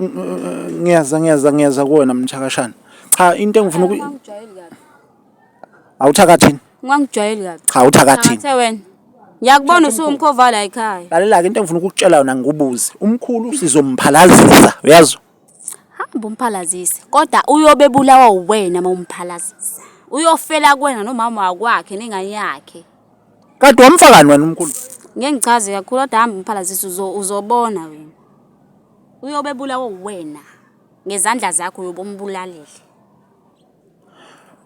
ngiyeza ngiyeza ngiyeza kuwena mthakashana cha into engifuna uku Ungangijwayeli kabi. awuthakathini Ungangijwayeli kabi. cha awuthakathini Ngathe wena. Ngiyakubona usuwumkhova la ekhaya. lalela-ke into engifuna ukukutshela yona ngikubuze umkhulu sizomphalazisa uyazi Hamba umphalazise. Kodwa uyobe bulawa uwena uma umphalazisa. Uyofela kuwena nomama wakwakhe nengane yakhe. kade wamfakani wena umkhulu Ngeke ngichaze kakhulu kodwa hamba umphalazise uzo- uzobona wena. Uyobe bulawa uwena ngezandla zakho uyobe umbulalile.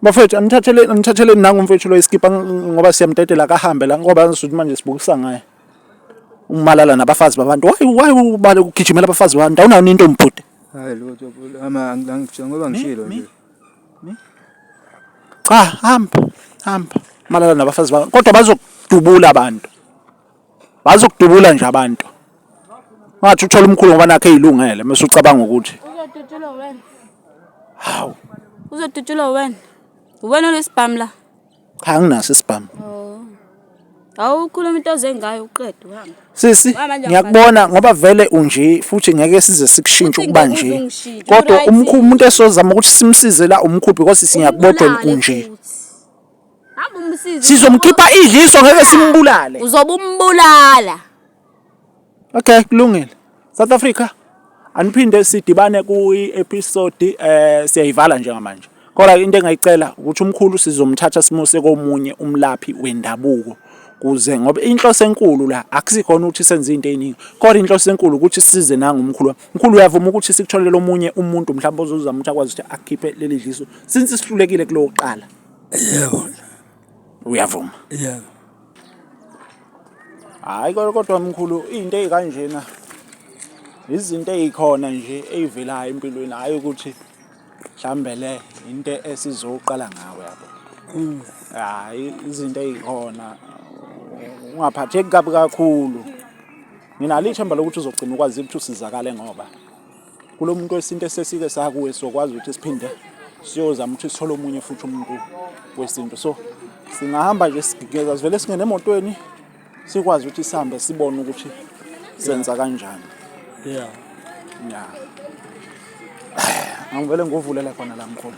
Bafethu anithatheleni anithatheleni nangu umfethu lo iskipa ngoba siyamdedela akahambe la ngoba angazi ukuthi manje sibukisa ngaye. Umalala nabafazi babantu. Why why ubale ukugijimela abafazi babantu? Awunayo into mbhuti. Hayi lutho ama angangitshela ngoba ngishilo nje. Cha hamba hamba. Malala nabafazi babantu. Kodwa bazokudubula abantu. Bazi ukudubula nje abantu. Ungathi uthola umkhulu ngoba nakhe eyilungele mase ucabanga ukuthi. Uzodutshulwa wena. Hawu. Uzodutshulwa wena. Uwena olesibhamu la. Cha nginaso isibhamu. Oh. Awukhuluma into ozengayo uqede uhamba. Sisi ngiyakubona ngoba vele unje futhi ngeke size sikushintshe ukuba nje. Kodwa umkhulu umuntu esozama ukuthi simsize la umkhulu because singiyakubodwa unje. Hamba umsize. Sizomkhipha idliso ngeke simbulale. Uzobe umbulala. Okay, kulungile. South Africa aniphinde sidibane kuyi episode eh siyayivala njengamanje. Kodwa into engayicela ukuthi umkhulu sizomthatha simuse komunye umlaphi wendabuko kuze ngoba inhloso enkulu la akusikhona ukuthi senze into eziningi kodwa inhloso enkulu ukuthi size nangu umkhulu mkhulu uyavuma ukuthi sikutholele omunye umuntu mhlawumbe ozozama ukuthi akwazi ukuthi akhiphe leli dliso since sihlulekile kulokuqala Yebo. Uyavuma? Yebo. Hhayi kodwa mkhulu iy'nto ey'kanjena izinto ey'khona nje ey'velayo empilweni hhayi ukuthi mhlawumbe le into esizoqala ngawe yabo. Mm. Hhayi izinto ey'khona ungaphatheki kabi kakhulu. Nginalo ithemba lokuthi uzogcina ukwazile ukuthi usizakale ngoba. kulo muntu wesintu esesike sakuwe sokwazi ukuthi siphinde siyozama ukuthi sithole omunye futhi umuntu wesintu so singahamba nje sigigeza sivele singene emotweni sikwazi ukuthi sihambe sibone ukuthi senza kanjani yeah yeah angivele ngovulele khona la mkhulu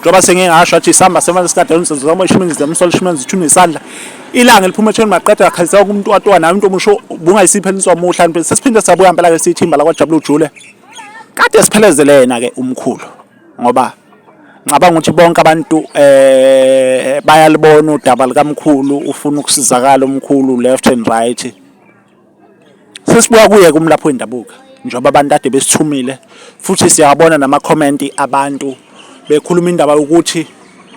njengoba sengingasho athi isamba semanje sikadalonso zoma ishimenzi demsol ishimenzi ithuna isandla ilanga eliphuma ethweni maqeda akhalisa umuntu watwa naye umuntu omusho bungayisiphe inswa muhla nto sesiphinde sabuya impela ke sithimba la kwajabula ujule kade siphelezelena ke umkhulu ngoba ngicabanga ukuthi bonke abantu eh bayalibona udaba likamkhulu ufuna ukusizakala umkhulu left and right Sesibuya kuye kumlaphi wendabuka njengoba abantu kade besithumile futhi siyabona namakhomenti abantu bekhuluma indaba yokuthi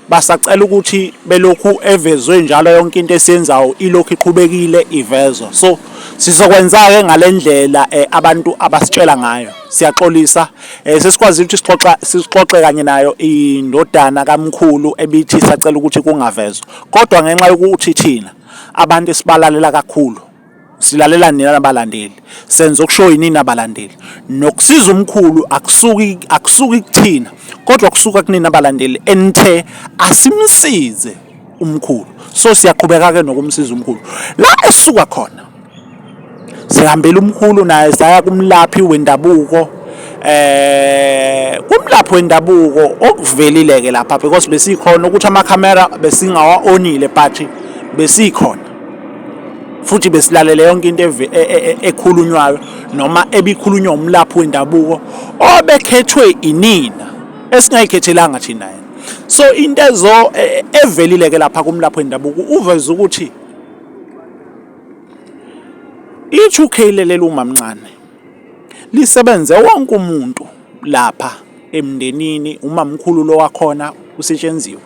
basacela ukuthi belokhu evezwe njalo yonke into esiyenzayo ilokhu iqhubekile ivezwa so sizokwenza-ke ngale ndlela eh, abantu abasitshela ngayo siyaxolisa eh, sesikwazile ukuthi sixoxa sixoxe kanye nayo indodana kamkhulu ebithi sacela ukuthi kungavezwa kodwa ngenxa yokuthi thina abantu esibalalela kakhulu silalela nina nabalandeli senza okushoyo yini nabalandeli nokusiza umkhulu akusuki akusuki kuthina kodwa kusuka kunina abalandeli enithe asimsize umkhulu so siyaqhubeka ke nokumsiza umkhulu la esuka khona sihambela umkhulu naye saya kumlaphi wendabuko eh kumlaphi wendabuko okuvelile ke lapha because besikhona ukuthi ama camera besingawa onile but besikhona futhi besilalele yonke into e, e, e, ekhulunywayo noma ebikhulunywa umlaphi wendabuko obekhethwe inina esingayikhethelanga thina yena so into ezo evelile ke lapha kumlaphi wendabuko uveze ukuthi i-2K leli umamncane lisebenze wonke umuntu lapha emndenini umamkhulu lo wakhona usetshenziwe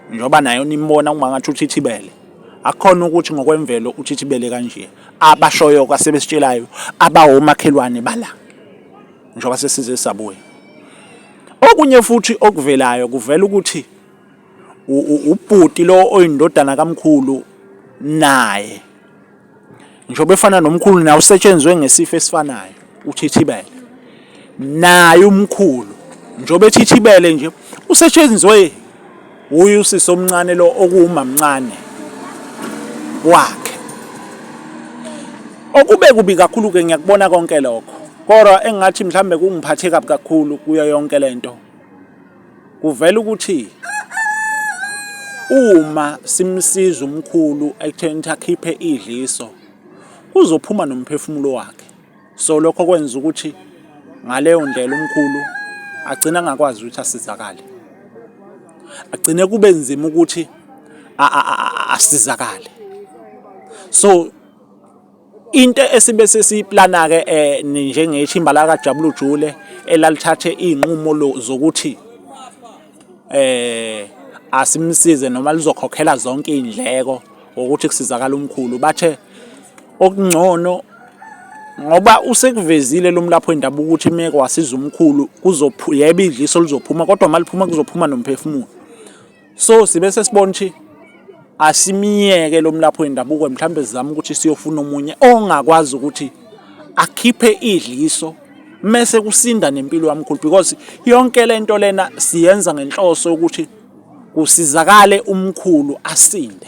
njengoba nayo nimbona uma ngathi uthithibele akukhona ukuthi ngokwemvelo uthithibele kanje abashoyo kwasebesitshelayo abawomakhelwane bala njengoba sesize sabuya okunye futhi okuvelayo kuvela ukuthi ubhuti lo oyindodana kamkhulu naye njengoba efana nomkhulu naye usetshenzwe ngesifo esifanayo uthithibele naye umkhulu njengoba ethithibele nje usetshenzwe uye usisi omncane lo okuwumamncane wakhe okube kubi kakhulu ke ngiyakubona konke lokho kodwa engathi mhlambe kungiphathe kabi kakhulu kuyo yonke lento Kuvela ukuthi uma simsiza umkhulu ekutheni ukuthi akhiphe idliso kuzophuma nomphefumulo wakhe so lokho kwenza ukuthi ngaleyo ndlela umkhulu agcina angakwazi ukuthi asizakale agcine kube nzima ukuthi asizakale so Into esibe sesiyiplana-ke um eh, njengethimba lakajabulujule elalithathe iy'nqumo zokuthi eh asimsize noma lizokhokhela zonke iy'ndleko ngokuthi kusizakala umkhulu bathe okungcono ngoba usekuvezile lo mlapho wendabuko ukuthi imeko wasiza umkhulu yebo idliso lizophuma kodwa uma liphuma kuzophuma nomphefumulo so sibe sesibona ukuthi asimiyeke lo mlaphi wendabuko mhlawumbe sizama ukuthi siyofuna omunye ongakwazi ukuthi akhiphe idliso mese kusinda nempilo yamkhulu because yonke lento lena siyenza ngenhloso ukuthi kusizakale umkhulu asinde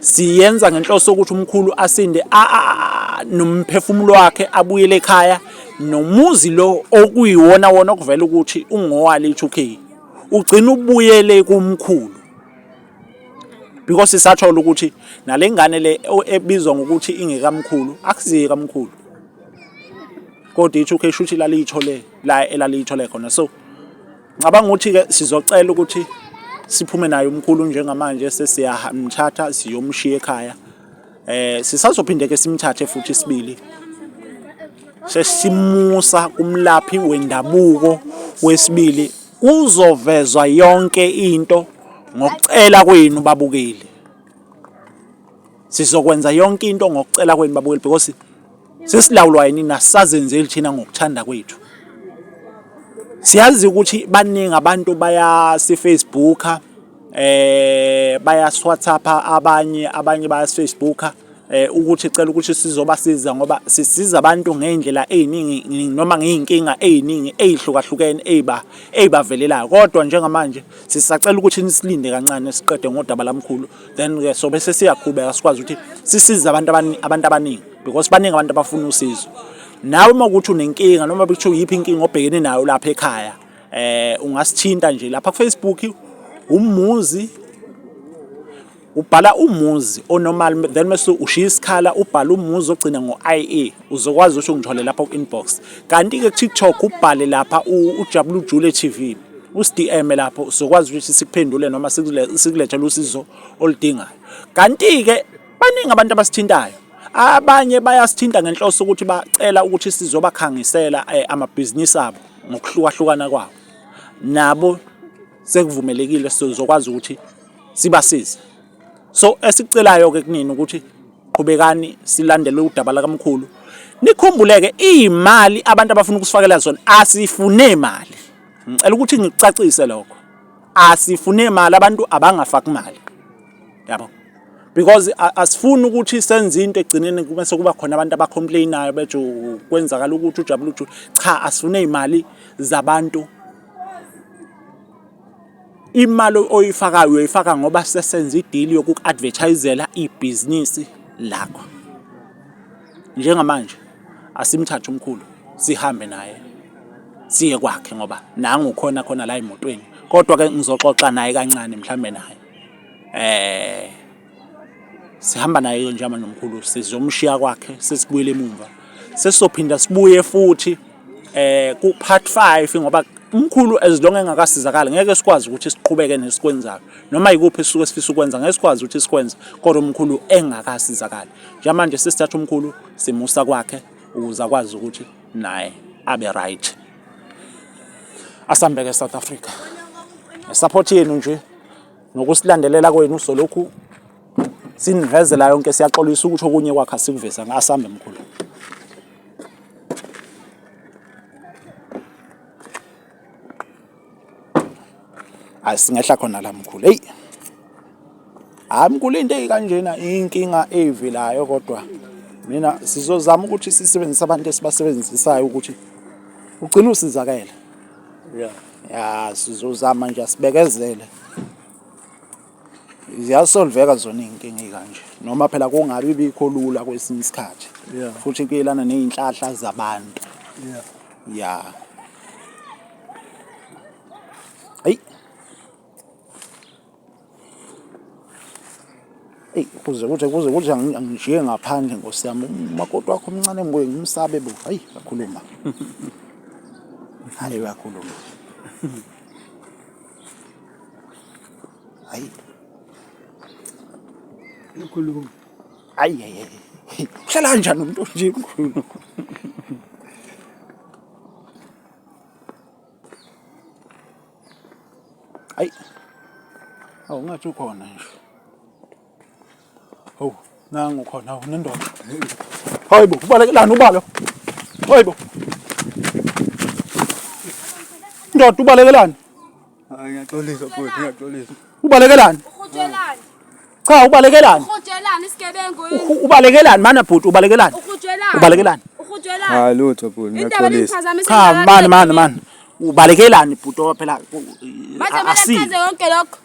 Siyenza ngenhloso yokuthi umkhulu asinde nomphefumulo wakhe abuyele ekhaya nomuzi lo okuyiwona wona okuvela ukuthi ungowale i-2K ugcina ubuyele kumkhulu because sisathola ukuthi nale ngane le ebizwa ngokuthi ingekamkhulu akusiye kamkhulu kodwa i-2K shuthi laliyithole la elaliyithole khona so Ngicabanga ukuthi-ke sizocela ukuthi siphume naye umkhulu njengamanje sesiyamthatha siyomshiya ekhaya eh sisazophinde ke simthathe futhi isibili sesimusa kumlaphi wendabuko wesibili kuzovezwa yonke into ngokucela kwenu babukeli Sizokwenza yonke into ngokucela kwenu babukeli because sesilawulwa yini nasazenzeli thina ngokuthanda kwethu. Siyazi ukuthi baningi abantu baya si Facebook eh baya WhatsApp abanye abanye baya Facebook eh ukuthi cela ukuthi sizobasiza ngoba sisiza abantu ngeindlela eziningi noma ngeinkinga eziningi ezihlukahlukene eziba ezibavelelayo kodwa njengamanje sisacela ukuthi nisilinde kancane siqede ngodaba lamkhulu then ke so bese siyaqhubeka sikwazi ukuthi sisize abantu abaningi abantu abaningi because baningi abantu abafuna usizo nawe uma ukuthi unenkinga noma bekuthiwa yiphi inkinga obhekene nayo lapha ekhaya eh ungasithinta nje lapha kufacebook umuzi ubhala umuzi onormal then mase ushiya isikhala ubhala umuzi ogcina ngo-ie uzokwazi ukuthi ungithole lapha ku-inbox kanti-ke kutiktok ubhale lapha ujabula ujule t v usidm lapho uzokwazi ukuthi sikuphendule noma sikulethele usizo oludingayo kanti-ke baningi abantu abasithintayo abanye bayasithinta ngenhloso ukuthi bacela ukuthi sizobakhangisela eh, amabhizinisi abo ngokuhlukahlukana kwawo nabo sekuvumelekile sizokwazi ukuthi sibasize so esikucelayo-ke kunini ukuthi qhubekani silandele udaba lakamkhulu nikhumbuleke iy'mali abantu abafuna ukusifakela zona asifune mali ngicela ukuthi ngikucacise lokho asifune mali abantu abangafaki mali yabo because asifuni ukuthi senze into egcineni kube sekuba khona abantu abacomplainayo bethi kwenzakala ukuthi ujabule ujule cha asifune imali zabantu Imali oyifakayo uyoyifaka ngoba sesenza idili yokuku-advertise-zela ibhizinisi lakho. Njengamanje asimthathe umkhulu sihambe naye siye kwakhe ngoba nangu ukhona khona la emotweni, kodwa-ke ngizoxoxa naye kancane mhlawumbe naye . sihamba naye ke njengamanje nomkhulu sizomshiya kwakhe sesibuyele emumva sesizophinda sibuye futhi eh ku part 5 ngoba umkhulu as long engakasizakala ngeke sikwazi ukuthi siqhubeke nesikwenzayo noma yikuphi sisuke sifisa ukwenza ngeke sikwazi ukuthi sikwenze kodwa umkhulu engakasizakali njengamanje sesithatha umkhulu simusa kwakhe ukuze akwazi ukuthi naye abe right asambeke South Africa support yenu nje Ngokusilandelela kwenu solokhu sinivezela yonke siyaxolisa ukuthi okunye kwakha sikuveza ngasambe mkhulu. Hayi singehla khona la mkhulu. Hey. Hayi mkhulu into eyikanjena inkinga eyivilayo kodwa mina sizozama ukuthi sisebenzise abantu esibasebenzisayo ukuthi ugcine usizakele. Yeah. ya sizozama nje asibekezele ziyasolveka zona iy'nkinga ey'kanje noma phela kungabi bikho lula kwesinye isikhathi Yeah. futhi kuyelana ney'nhlahla zabantu Yeah. ya Eyi kuze kuthi kuze kuthi angijiye ngaphandle nkosi yami umakoti wakho omncane ngibuye ngimsabe bo hayi kakhuluma hayi kakhuluma hayi ukhuluma hayi hayi uhlala kanjani umuntu nje mkhulu Ay. Awu ngathi ukhona nje. Hawu, nangu khona hawu nendoda. Hayibo, ubalekelani ubalo? Hayibo. Ndoda ubalekelani? Hayi ngiyaxolisa futhi ngiyaxolisa. Ubalekelani? Ukhuthelani? Cha ubalekelani? Ukhuthelani isigebengu yini? Ubalekelani mana bhuti ubalekelani? Ukhuthelani? Ubalekelani? Ukhuthelani? Hayi lutho bhuti ngiyaxolisa. Cha mani mani mani. Ubalekelani bhuti owa phela asi. Manje manje yonke lokho.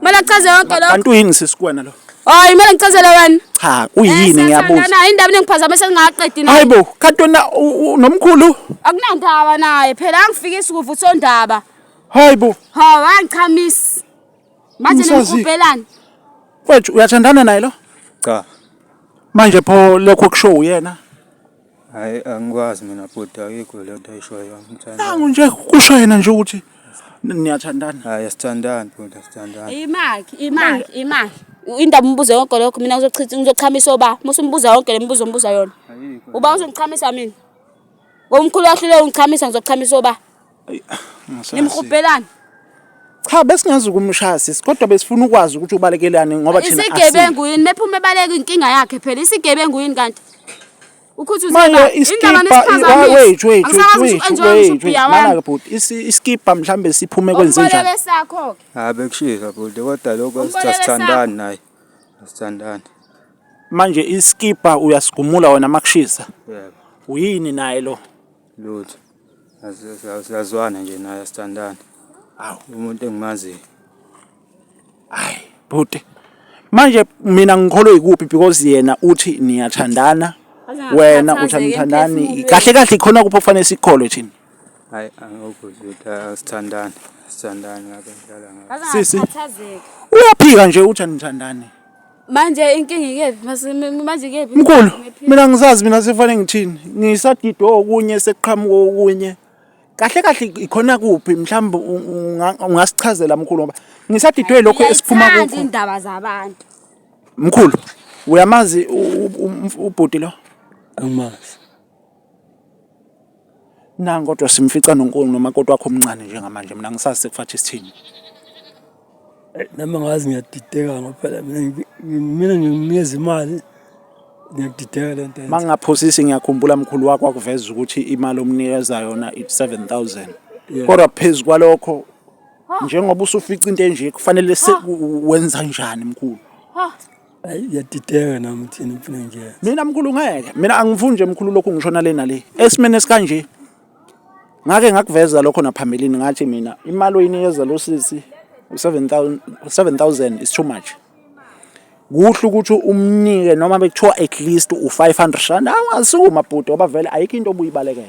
Mala chaze yonke lokho. Kanti uyini sisi kuwena lo? Hayi kumele ngicazele wena. Cha uyini eh, ngiyabuza. Hayi indaba ningiphazamisa ngingaqedi nayo. Hayibo katona nomkhulu. Akunandaba naye phela angifikisi kuvuthondaba. Hayibo. Ha wangichamisa. Manje Umsazile. nimhubhelani? Mfethu uyathandana naye lo? Cha. Manje pho lokho kusho uyena. Hayi angikwazi mina bhuti ayikho le nto ayishoyo angithanda. Nangu nje kusho yena nje ukuthi n- niyathandana. Hayi asithandani bhuti asithandani. Imaki, imaki, imaki. Indaba umbuzo yonke lokho mina ngizochitha ngizochamisa oba. Musa umbuza yonke lemibuzo ombuza yona. Ayikho. Uba uzongichamisa mina. Ngomkhulu wakho leyo ungichamisa ngizochamisa oba. Nimhubhelani? Cha besingazi ukumshaya sisi kodwa besifuna ukwazi ukuthi ubalekelani ngoba thina isigebengu yini mephume ebaleka inkinga yakhe phela isigebengu yini kanti Manje iskipa wait wait wait wait mana bhuti iskipa mhlambe siphume kwenze njani? Hayi bekushisa bhuti kodwa lokho sithandani naye. Sithandani. Manje iskipa uyasigumula wena makushisa. Yebo. Uyini naye lo? Lutho. Siyazwana nje naye asithandani. Awu. Umuntu engimaziyo. Hayi, bhuti. Manje mina ngikholwe yikuphi because yena uthi niyathandana. Wena uthi anithandani. Kahle kahle ikhona kuphi okufanele sikholwe thina? Hayi, angikho ukuthi asithandani. Sithandani ngabe ngidlala ngabe. Sisi. Uyaphika nje uthi anithandani. manje inkinga ikephi manje ikephi mkhulu mina ngisazi mina sekufanele ngithini ngisadidwe okunye sekuqhamuka okunye kahle kahle ikhona kuphi mhlawumbe ungasichazela mkhulu ngoba ngisadidwe lokho esiphuma kukho indaba zabantu mkhulu uyamazi ubhuti lo angimazi Nangu kodwa simfica nonkulu nomakoti wakho omncane njengamanje mina ngisazi sekufathi isithini. Eh, nami ngazi ngiyadideka ngoba phela mina mina ngimnikeza imali ngiyakudideka le nto. Uma ngingaphosisi ngiyakhumbula mkhulu wakho wakuveza ukuthi imali omnikeza yona it's seven thousand kodwa phezu kwalokho njengoba usufica into enje kufanele wenza njani mkhulu? Ayi yadideka nami thina ngifuna nje. Mina mkhulu ngeke. Mina angifuni nje mkhulu lokhu ngishona le nale. Esimene sikanje. Ngake ngakuveza lokho naphambilini ngathi mina imali oyinikeza lo sisi u7000 7000 is too much. Kuhle ukuthi umnike noma bekuthiwa at least u500 rand awasuku mabhuti ngoba vele ayikho into obuyibalekela.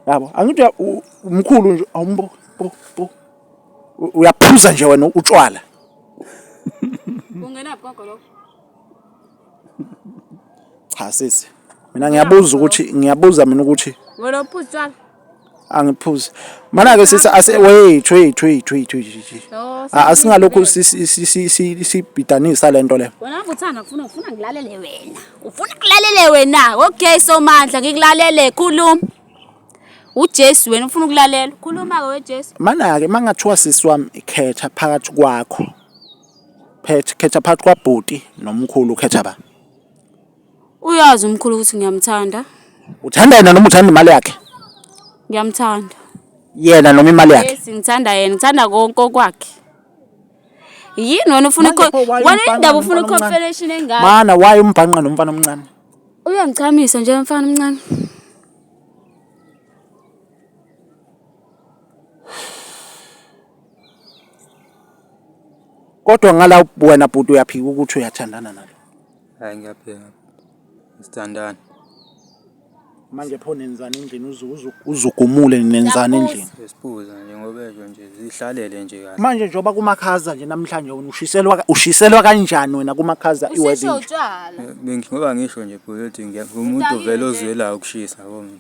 Yabo angithi umkhulu nje awumbo bo bo uyaphuza nje wena utshwala ungenaphi gogo lokho cha sisi mina ngiyabuza ukuthi ngiyabuza mina ukuthi wena uphuza utshwala angiphuzi mana ke sisi ase wait wait wait wait wait oh, ah, asingalokhu sibhidanisa lento le wena uthanda ufuna ufuna ngilalele wena ufuna ngilalele wena okay so mandla ngikulalele khuluma uJesu wena ufuna ukulalela khuluma ke weJesu manake mangathiwa sisi wami ikhetha phakathi kwakho phethe khetha phakathi kwabhuti nomkhulu ukhetha ba uyazi umkhulu ukuthi ngiyamthanda uthanda yena noma uthanda imali yakhe ngiyamthanda yena noma imali yakhe yes ngithanda yena ngithanda konke okwakhe yini wena ufuna wena indaba ufuna i-confederation engaka mana waye umbhanqa nomfana omncane Uyangichamisa nje mfana omncane. Kodwa ngala wena bhuti uyaphika ukuthi uyathandana nalo. Hayi ngiyaphika. Sithandana. manje pho nenzani endlini uze uzu- uzugumule nenzani endlini Sesiphuza nje ngoba esho nje zihlalele nje kahle. manje njengoba kumakhaza nje namhlanje wena ushiselwa ka- ushiselwa kanjani wena kumakhaza Ushiswa iwedding utshwala. Bengi- Ngoba ngisho nje bhuti ukuthi ngiya- umuntu Udakile uvele nje. ozwelayo ukushisa yabo mina.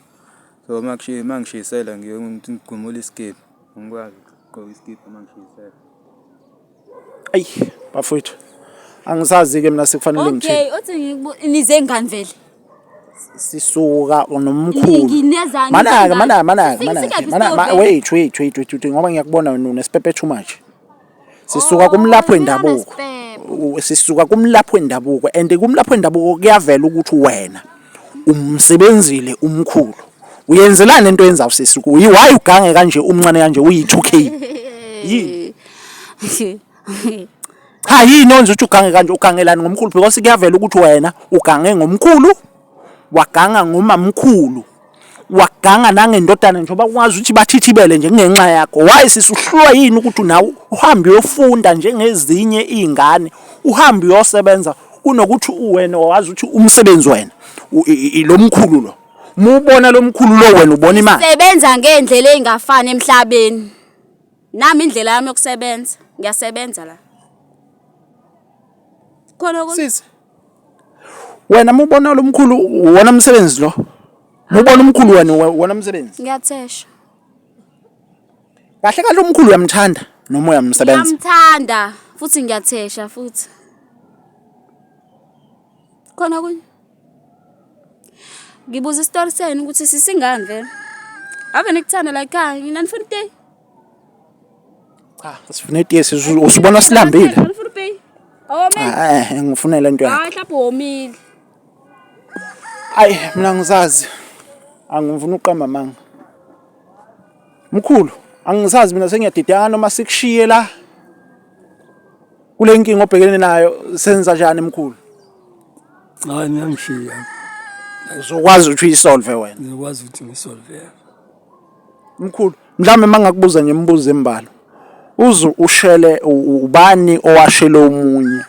So uma kushi- uma ngishisela ngiye ngigumule isikibha. Ngikwazi ukugqoka isikibha uma ngishisela. Ayi bafowethu angisazi-ke mina sekufanele ngithini okay othi ngiku- nize ngani vele sisuka nomkhulu Nginezani, manaka nginezani? manaka manaka Sisi- manaka sikaphi manaka ma- sitobhe? wait wait wait wait wait, ngoba ngiyakubona wena unesipepe too much sisuka Oh, kumlaphi wendabuko singanasipepe. U- sisuka kumlaphi wendabuko and kumlaphi wendabuko kuyavela ukuthi wena umsebenzile umkhulu uyenzelani into yenza usisi kuyi why ugange kanje umncane kanje uyi 2k yini cha yini onje uthi ugange kanje ugangelani ngomkhulu because kuyavela ukuthi wena ugange ngomkhulu waganga ngomamkhulu waganga nangendodana njengoba kwazi ukuthi bathithibele nje kungenxa yakho why sisuhlulwa yini ukuthi nawe uhambe uyofunda njengezinye iy'ngane uhambe uyosebenza kunokuthi uwena wazi ukuthi umsebenzi wena lo mkhulu lo mubona lo mkhulu lo wena ubona imali sebenza ngendlela engafani emhlabeni nami indlela yami yokusebenza ngiyasebenza la khona ukuthi wena mubona lo mkhulu wona umsebenzi lo mubona umkhulu wena wona umsebenzi ngiyathesha kahle kahle umkhulu uyamthanda noma uyamsebenza ngiyamthanda futhi ngiyathesha futhi khona kunye ngibuza isitori senu ukuthi sisingani vele ave nikuthanda la ekhaya nginanifuna iteyi Cha, sifuna itiyesi usubona silambile. Ngifuna upay. Awomile. Ah, eh, eh, ngifuna le nto yakho. Hayi mhlawumbe womile. Ayi mina ngizazi. Angifuni uqamba manga. Mkhulu, angisazi mina sengiyadidana noma sikushiye la. Kule nkinga obhekene nayo senza njani mkhulu? Hayi mina ngishiya. Uzokwazi ukuthi uyisolve wena. Ngikwazi ukuthi ngisolve. Mkhulu, mhlawumbe mangakubuza nje imibuzo embalwa. Uze ushele ubani owashele omunye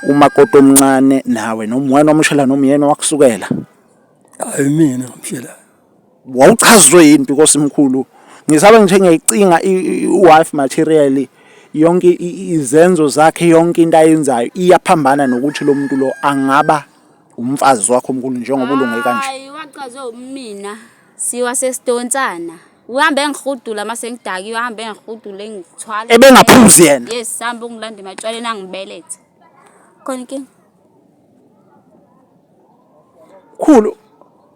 umakoti omncane nawe noma wena omushela noma uyena owakusukela? Hayi mina ngimshela. Wawuchazwe yini because mkhulu ngisabe ngithe ngiyayicinga i-wife material yonke izenzo zakhe yonke into ayenzayo iyaphambana nokuthi lo muntu lo angaba umfazi wakho mkhulu njengoba ulunge kanje. Hayi wachazwe umina. Siwa sesidonsana. Uhambe engihudula mase ngidakiwe uhambe engihudula engithwala. Ebengaphuzi yena. Yes, sihamba ungilanda ematshwaleni angibelethe. Khona inkinga. Khulu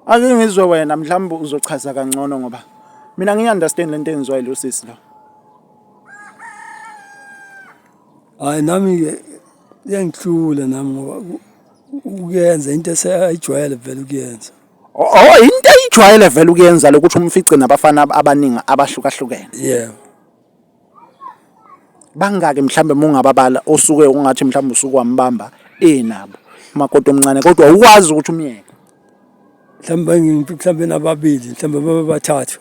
ake ngizwe wena mhlawumbe uzochaza kangcono ngoba mina ngiyi understand lento enziwa yilo sisi lo. Hayi nami ke iyangihlula nami ngoba ku- ukuyenza into esayijwayele vele ukuyenza. Oh into eyijwayele vele ukuyenza lokuthi umfice nabafana abaningi abahlukahlukene. Yeah. Bangaki mhlambe mungababala osuke ungathi mhlambe usuku wambamba enabo. Makoti omncane kodwa ukwazi ukuthi umyeke. Mhlambe ngimphi mhlambe nababili mhlambe babe bathathu.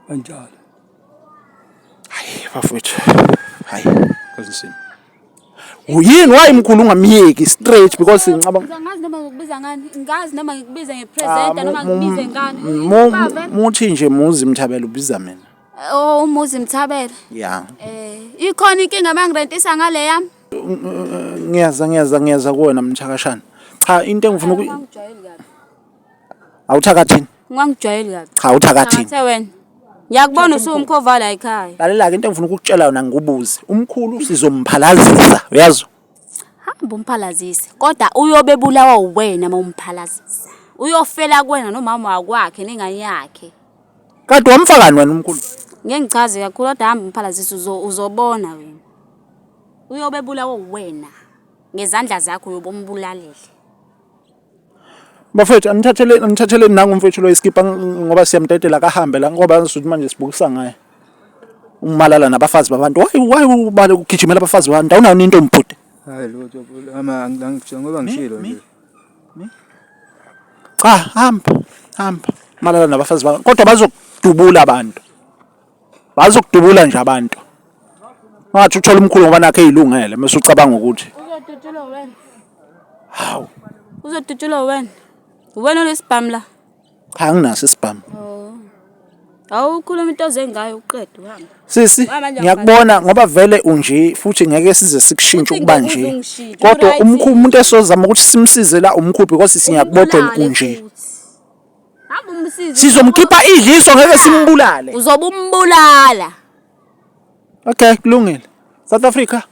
kanjalo hayi bafowethu hayi kazinsini uyini wayi mkhulu ungamyeki straight because ngicabanga ngazi noma ngikubiza ngani ngazi noma ngikubiza ngepresenter ah, noma ngikubize ngani muthi nje muzi mthabela ubiza mina oh umuzi mthabela ya eh ikhona inkinga mangirentisa ngale yami ngiyaza ngiyaza ngiyaza kuwena mthakashana cha into engifuna Awuthakathini. Ungangijwayeli kabi. Cha uthakathini. Thathe wena. Ngiyakubona usuwumkhova la ekhaya. Lalela-ke into engifuna ukukutshela yona ngikubuze. Umkhulu sizomphalazisa, uyazi? Hamba umphalazise. Kodwa uyobe bulawa uwena uma umphalazisa. Uyofela kuwena nomama wakwakhe nengane yakhe. Kade wamfakani wena umkhulu? Ngeke ngichaze kakhulu kodwa hamba umphalazise uzo uzobona wena. Uyobe bulawa uwena. Ngezandla zakho uyobe umbulalele. Bafethu anithathele anithathele nangu umfethu lo iskipha ngoba siyamdedela kahambe la ngoba ngisuthi manje sibukisa ngaye. Umalala nabafazi babantu. Why why ubale ukugijimela abafazi babantu? Awunayo into mbhuti. Hayi lutho ama ngangishilo ngoba ngishilo nje. Cha hamba hamba malala nabafazi babantu kodwa bazokudubula abantu. Wazi ukudubula nje abantu. Ungathi uthola umkhulu ngoba nakhe eyilungele mase ucabanga ukuthi. Uzodutshulwa wena. Hawu. Uzodutshulwa wena. Uwena onesibhamu la. Cha anginaso isibhamu. Oh. Awukhuluma into ozengayo uqede uhamba. Sisi ngiyakubona ngoba vele unje futhi ngeke size sikushintshe ukuba nje. Kodwa umkhulu umuntu esozama ukuthi simsize la umkhulu because singiyakubodwa unje. Hamba umsize. Sizomkhipha idliso ngeke simbulale. Uzobe umbulala. Okay, kulungile. South Africa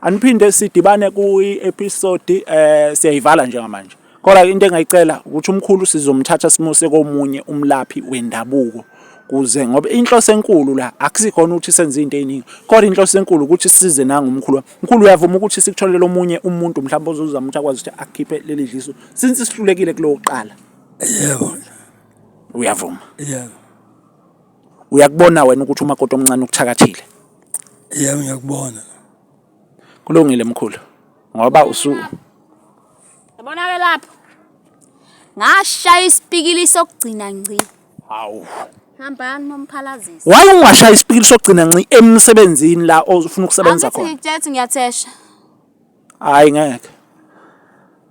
aniphinde sidibane kuyi episode eh siyayivala njengamanje. Kodwa into engayicela ukuthi umkhulu sizomthatha simuse komunye umlaphi wendabuko kuze ngoba inhloso enkulu la akusikhona ukuthi senze into eziningi kodwa inhloso enkulu ukuthi size nanga umkhulu mkhulu uyavuma ukuthi sikutholele omunye umuntu mhlawumbe ozozama ukuthi akwazi ukuthi akhiphe leli dliso since sihlulekile kulokuqala Yebo. Uyavuma? Yebo. Uyakubona wena ukuthi umakoti omncane ukuthakathile? Yebo ngiyakubona. Kulungile mkhulu ngoba usu Yabona ke lapho. Ngashaya isipikili sokugcina ngci. Hawu. Hambani momphalazisi. Why ungashaya isipikili sokugcina nci emsebenzini la ofuna ukusebenza khona? Angithi ngiyathesha. Hhayi ngeke.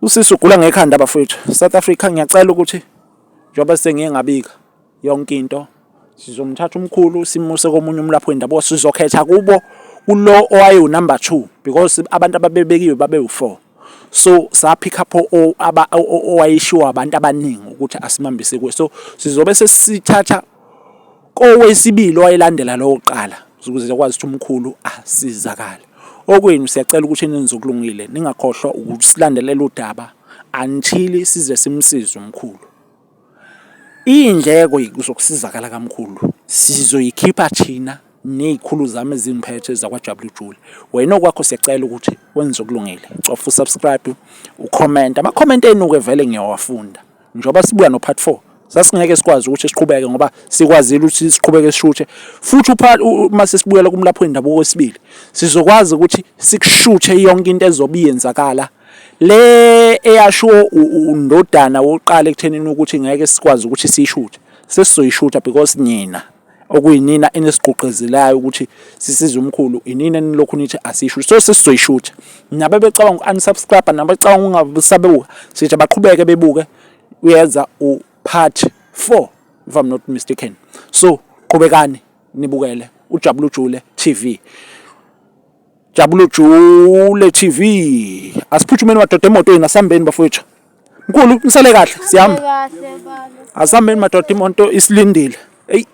Usisi ugula ngekhanda bafowethu. South Africa ngiyacela ukuthi njengoba sengiye ngabika yonke into sizomthatha umkhulu simuse komunye umlaphi wendabuko sizokhetha kubo kulo owayewu-number two because abantu ababebekiwe babewu-four so saphikha pho owayeshiwo abantu abaningi ukuthi asimambise kuwe so sizobe sesithatha kowesibili owayelandela lowo kuqala ukuze akwazi ukuthi umkhulu asizakale okwenu siyacela ukuthi nenze okulungile ningakhohlwa ukusilandelela udaba until size simsize umkhulu iy'ndleko zokusizakala kamkhulu sizoyikhipha thina ney'khulu zami ezimphethe zakwajabula ujule wena okwakho siyacela ukuthi wenze okulungile cofa usubscribe ukhomenta amakhomenti enu-ke vele ngiyawafunda Njengoba sibuya no part 4 sasingeke sikwazi ukuthi siqhubeke ngoba sikwazile ukuthi siqhubeke sishuthe futhi uma sesibuyela kumlapho wendabuko wesibili sizokwazi ukuthi sikushuthe yonke into ezobe iyenzakala le eyasho undodana wokuqala ekuthenini ukuthi ngeke sikwazi ukuthi siyishuthe sesizoyishutha because nina okuyinina enisigqugqezelayo ukuthi sisize umkhulu inina enilokhu nithi asisho so sesizoyishutha nabo becabanga uku-unsubscribe nabo becabanga ungasabebuka sithi baqhubeke bebuke uyeza u-part four if i'm not mistaken so qhubekani nibukele ujabula ujule tv jabula ujule tv asiphuthumeni madoda emotweni asihambeni bafowethu mkhulu nisale kahle sihamba asihambeni madoda imoto isilindile eyi